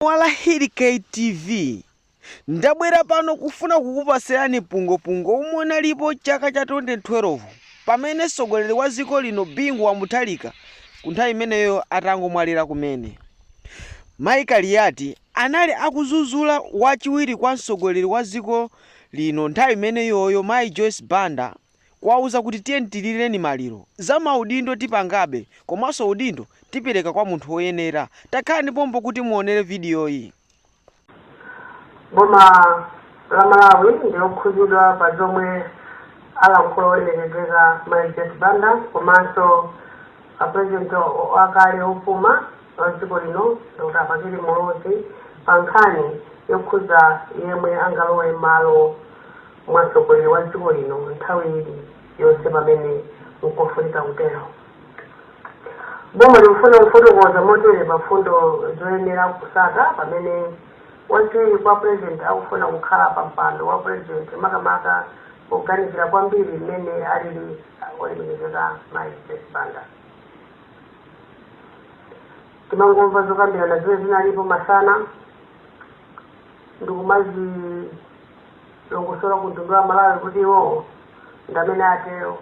Wa Lahiti TV ndabwera pano kufuna kukupasirani mpungwepungwe omwe unalipo chaka cha 2012 pamene msogoleri wa ziko lino Bingu wa Mutharika ku nthawi imeneyo atangomwalira kumene Mai Kaliyati anali akuzuzula wa chiwiri kwa msogoleri wa ziko lino nthawi imeneyoyo Mai Joyce Banda kuwauza kuti tiyeni tilireni maliro. Za maudindo tipangabe komanso udindo tipereka kwa munthu woyenera. Takhalani pompo kuti muonere vidiyoyi. Boma la Malawi ndi lokhuzidwa pa zomwe alankhula olemekezeka Mai Joyce Banda komanso a President wakale opuma wa dziko lino Dr. Bakili Muluzi pa nkhani yokhuza yemwe angalowe malo mwa mtsogoleri wa dziko lino nthawi ili yonse pamene nkofunika kutero. Boma likufuna kufotokoza motere pa mfundo zoyenera kusata pamene wachiwiri kwa pulezidenti akufuna kukhala pa mpando wa pulezidenti makamaka poganizira kwambiri mmene alili olemekezeka mayi Joyce Banda. Timangomva zokambirana zimene zinalipo masana ndikumazilongosola ku mtundu wa malawi kuti iwowo ndamene atero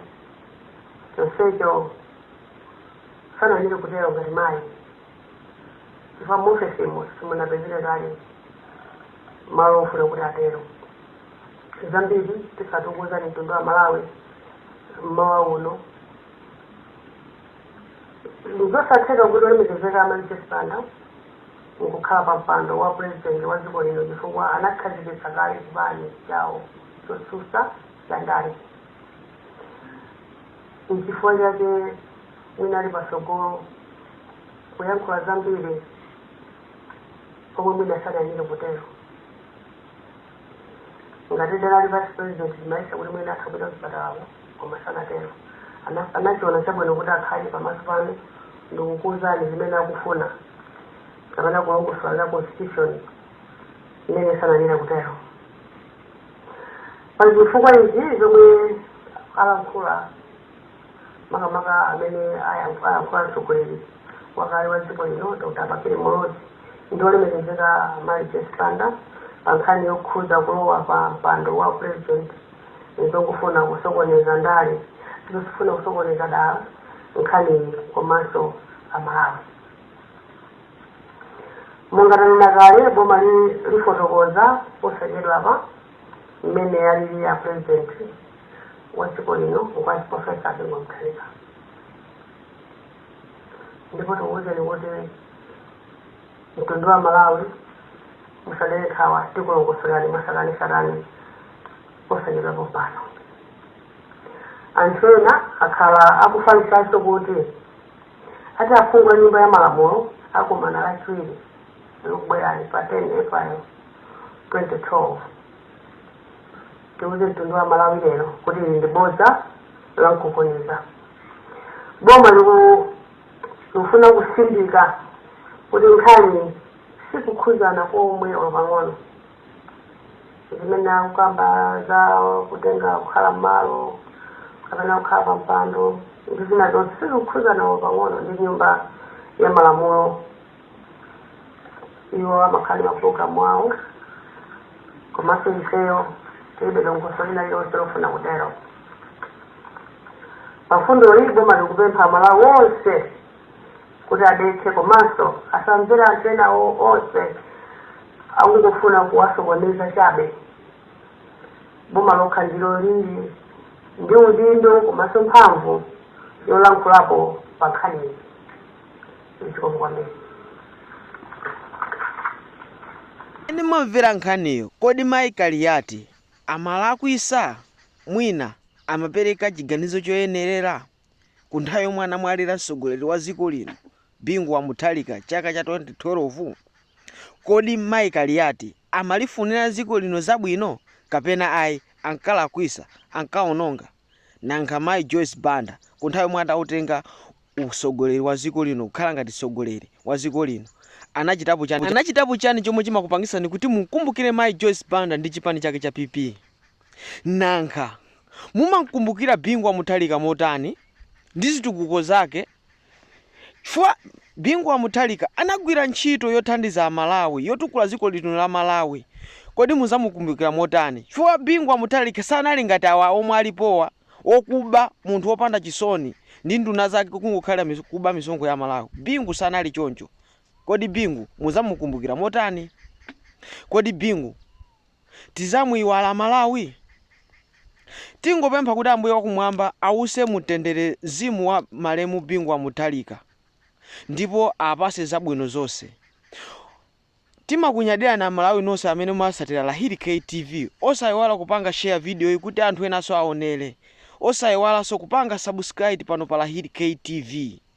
chonsecho sanayenere kutero ngati mayi chifukwa muofesimo simunapezere kale malo ofuna kuti atero zambiri tisatukuza ndi mtundu wa malawi mmawa uno ndizosatheka kuti olemekezeka amayi Joyce Banda nkukhala pa mpando wa pulezidenti wa dziko lino chifukwa anakhazikitsa kale chipani chawo chotsutsa cha ndale. Nchifukwa chake mwina ali patsogolo kuyankhula zambiri pomwe mwina sanayenere kutero. ngati analidi vice president timayesa kuti mwina atha kupita kuchipatalako koma sanatero Ana- anachiona chabwino kuti akhale pamaso panu ndikukuuzani zimene akufuna kapena kulongosola za constitution imene sanayenera kutero pa zifukwa izi zomwe alankhula makamaka amene ayankhula mtsogoleri wakale wa dziko lino dr bakili muluzi ndi olemekezeka mai joyce banda pa nkhani yokhudza kulowa pa mpando wa president nzongofuna kusokoneza ndale zosifuna kusokoneza dala nkhani komanso amalawi monga tanena kale boma lifotokoza posachedwapa mmene alili a president wa dziko lino Ngwazi Profesa Bingu wa Mutharika ndipo tikuwuzeni kuti mtundu wa malawi musadere nkhawa tikulongosolerani mwatsatanetsatane posachedwa pompano anthu ena akhala akufalitsanso kuti ati aphungu a nyumba ya malamulo akumana lachiwiri likubwerali pa 10 april 2012 tiuze mtundu wa malawi lero kuti ili ndi bodza la mkunkhuniza boma liku- likufuna kutsindika kuti nkhaniyi sikukhuzana komwe olo pang'ono zimene akukamba za kutenga kukhala mmalo kapena kukhala pa mpando ndi zina zonse sizikukhuzana olo pang'ono ndi nyumba ya malamulo iwo amakhala ndi mapulogalamu awo komanso ifeyo tilibe dongosolo lina lililonse lofuna kutero pamfundo iyi boma likupempha amalawi onse kuti adekhe komanso asamvere anthu ena onse akungofuna kuwasokoneza chabe boma lokha ndilo lili ndi udindo komanso mphamvu yolankhulapo pa nkhaniyi Mmene mwamvera nkhaniyo, kodi mayi Kaliati amalakwisa? Mwina amapereka chiganizo choyenerera? Ku nthawi yomwe anamwalira mtsogoleri wa dziko lino Bingu wa Mutharika chaka cha 2012, kodi mayi Kaliati amalifunira dziko lino zabwino kapena ayi? Ankalakwisa? Ankaononga? Nankha mayi Joyce Banda ku nthawi yomwe adautenga usogoleri wa ziko lino kukhala ngati sogoleri wa ziko lino anachitapo chani? Anachitapo chani chomwe chimakupangisani kuti munkumbukire mayi Joyce Banda ndi chipani chake cha PP? Nankha mumankumbukira Bingu wa Mutharika motani ndi zitukuko zake Chifukwa Bingu wa Mutharika anagwira ntchito yothandiza a Malawi, yotukula dziko lino la Malawi. Kodi muzamukumbukira motani? Chifukwa Bingu wa Mutharika sanali ngati awa omwe alipowa, wokuba, munthu wopanda chisoni ndi nduna zake kungokhalira kuba misonkho ya a Malawi. Bingu sanali choncho. Kodi Bingu muzamukumbukira motani? Kodi Bingu. tizamuiwala amalawi? Tingopempha kuti ambuye wakumwamba awuse mumtendere zimu wa malemu bingu wa Mutharika ndipo apase zabwino zose. Timakunyadirani amalawi nonse amene mumatsatira lahiri K TV osaiwala kupanga share video yi kuti anthu enanso aonere osaiwalanso kupanga subscribe pano pa lahiri K TV.